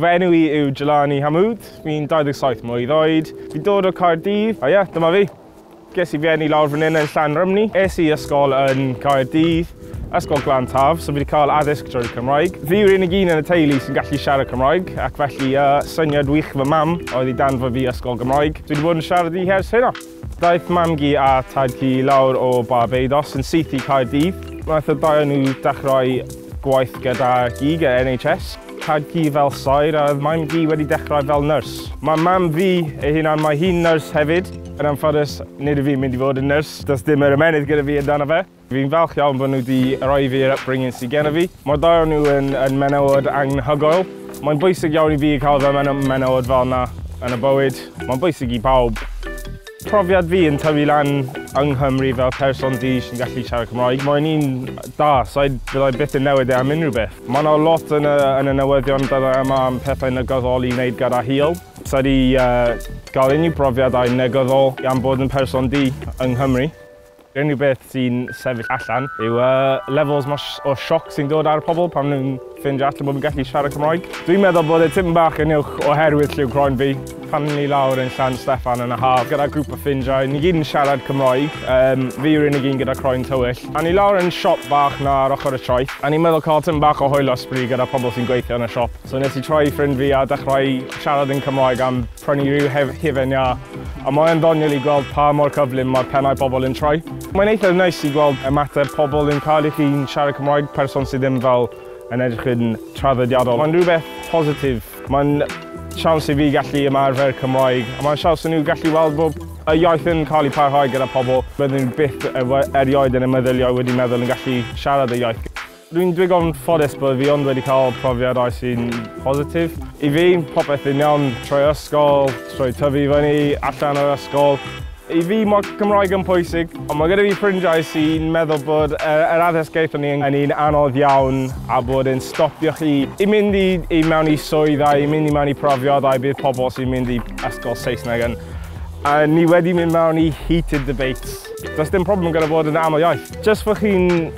Fy enw i yw Jelani Hamoud, fi'n 27 mlwydd oed, fi'n dod o Caerdydd, a ie, yeah, dyma fi. Ges i fy enni lawr fan hyn yn Llan Rymni, es i ysgol yn Caerdydd, Ysgol Glan Taf, so fi wedi cael addysg drwy'r Cymraeg. Fi yw'r unig un yn y teulu sy'n gallu siarad Cymraeg, ac felly uh, syniad wych fy mam oedd i danfod fi ysgol Gymraeg. Dwi wedi bod yn siarad i hers hynna. Daeth Mam-gu a Tad-cu i lawr o Barbados yn syth i Caerdydd. Wnaeth y ddau o nhw ddechrau gwaith gyda gig y NHS. Tad-cu fel saer a oedd Mam-gu wedi dechrau fel nyrs. Mae Mam fi ei hunan, mae hi'n nyrs hefyd. Yn anffodus, nid yw fi'n mynd i fod yn nyrs, does dim yr ymennydd gyda fi amdano fe. Fi'n falch iawn bod nhw wedi rhoi fi'r upbringing sydd gen i fi. Mae'r ddau o nhw yn, yn menywod anghyhoel. Mae'n bwysig iawn i fi cael fy menywod fel yna yn y bywyd. Mae'n bwysig i bawb. Profiad fi yn tyfu lan yng Nghymru fel person du sy'n gallu siarad Cymraeg, mae'n un da, so fydda i byth yn newid e am unrhyw beth. Mae yna lot yn y, yn y newyddion dyddiau yma am pethau negyddol i wneud gyda hil. Sa i wedi uh, cael unrhyw brofiadau negyddol am bod yn person du yng Nghymru. Yr unig beth sy'n sefyll allan yw y levels 'ma o sioc sy'n dod ar y pobl pan maen nhw'n ffeindio allan bod fi'n gallu siarad Cymraeg. Dwi'n meddwl bod e tipyn bach yn uwch oherwydd lliw croen fi. Pan o'n i lawr yn Llan Steffan yn y haf gyda grŵp o ffrindiau, ni gyd yn siarad Cymraeg, yym, fi yw'r unig un gyda croen tywyll. A o'n i lawr yn siop bach 'na ar ochr y traeth, a o'n i'n meddwl cael tipyn bach o hwyl a sbri gyda pobl sy'n gweithio yn y siop. So nes i troi i ffrind fi a dechrau siarad yn Cymraeg am prynu rhyw hufen iâ, a mae e'n ddoniol i gweld pa mor cyflym mae'r pennau pobl yn troi. Mae'n eitha neis i gweld ymateb pobl yn cael i chi'n siarad Cymraeg, person sydd ddim fel yn edrych yn traddodiadol. Mae'n rhywbeth positif. Mae'n siawns i fi gallu ymarfer Cymraeg, a mae'n siawns i nhw gallu weld bod y iaith yn cael ei pharhau gyda pobl bydden nhw byth erioed yn y meddyliau wedi meddwl yn gallu siarad y iaith. Rwy'n ddigon ffodus bod fi ond wedi cael profiad oes sy'n positif. I fi, popeth yn iawn trwy ysgol, trwy tyfu i fyny, allan o'r ysgol. I fi, mae Cymraeg yn pwysig, ond mae gyda fi ffrindiau sy'n meddwl bod yr addysg gaethon ni yn un anodd iawn a bod e'n stopio chi i mynd i mewn i swydd a i mynd i mewn i profiadau bydd pobl sy'n mynd i ysgol Saesneg yn. A ni wedi mynd mewn i heated debates. Does dim problem gyda bod yn aml iaith. Jyst bod chi'n...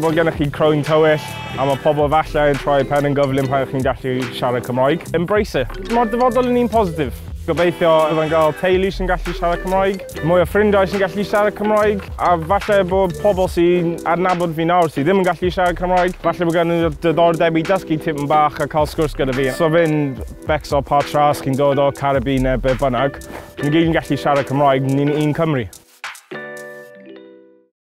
bod gennych chi croen tywyll a mae pobl falle yn troi pen yn gyflym pan chi'n gallu siarad Cymraeg. Embrace it. Mae'r dyfodol yn un positif. Gobeithio byddai'n cael teulu sy'n gallu siarad Cymraeg, mwy o ffrindiau sy'n gallu siarad Cymraeg, a falle bod pobl sy'n adnabod fi nawr sydd ddim yn gallu siarad Cymraeg, falle bod gen nhw diddordeb i dysgu tipyn bach a cael sgwrs gyda fi. So fe'n becso pa tra os chi'n dod o'r Caribî neu be bynnag, ni gyd yn gallu siarad Cymraeg, ni'n un Cymru.